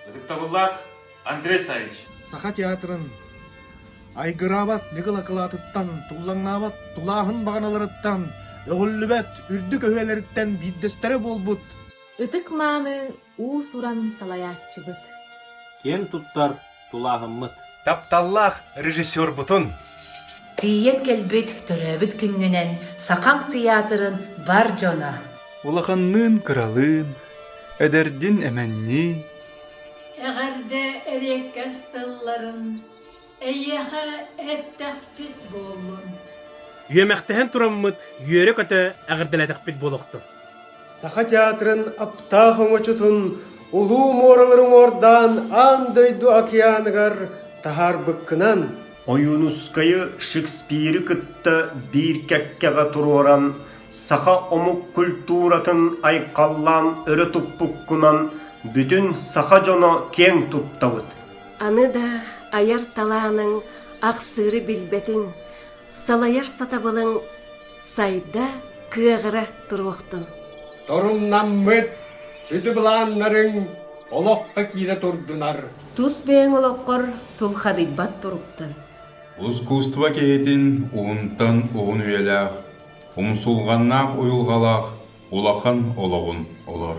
Ытыктабыллаах Андрей Савич. Саха театрын айгыраабат ньыгыл акылаатыттан, туллаҥнаабат тулааһын баҕаналарыттан, өҕүллүбэт үрдүк өһүөлэриттэн биирдэстэрэ буолбут Ытык мааны уус-уран салайааччыбыт киэн туттар тулааһыммыт тапталлаах режиссербутун тиийэн кэлбит төрөөбүт күҥҥүнэн сахам тыйаатырын бар дьоно улаханныын кыралыын эдэрдин эмэннии эҕэрдэ эриэккэс тылларын Эйиэхэ эттэхпит буоллун. Үөмэхтэһэн тураммыт үөрэ-көтө эҕэрдэлээтэхпит буолуохтун. Саха театрын аптаах оҥочотун улуу муоралары уҥуордаан аан дойду океаныгар таһаарбыккынан Ойуунускайы Шекспиры кытта биир кэккэҕэ туруоран саха омук культуратын айхаллаан өрө туппуккунан бүтүн саха дьоно киэҥ туттабыт. Аны да айар талааныҥ ахсыыры билбэтиҥ, салайар сатабылыҥ сайда, кыаҕыра туруохтун. Торумнаммыт сүдү былааннарыҥ олоххо киирэ турдунар. Тус бэйэҥ олоххор тулхадыйбат туруктан. Ускуустуба киһитин уһунтан уһун үйэлээх, умсулҕаннаах уйулҕалаах улахан олоҕун олор.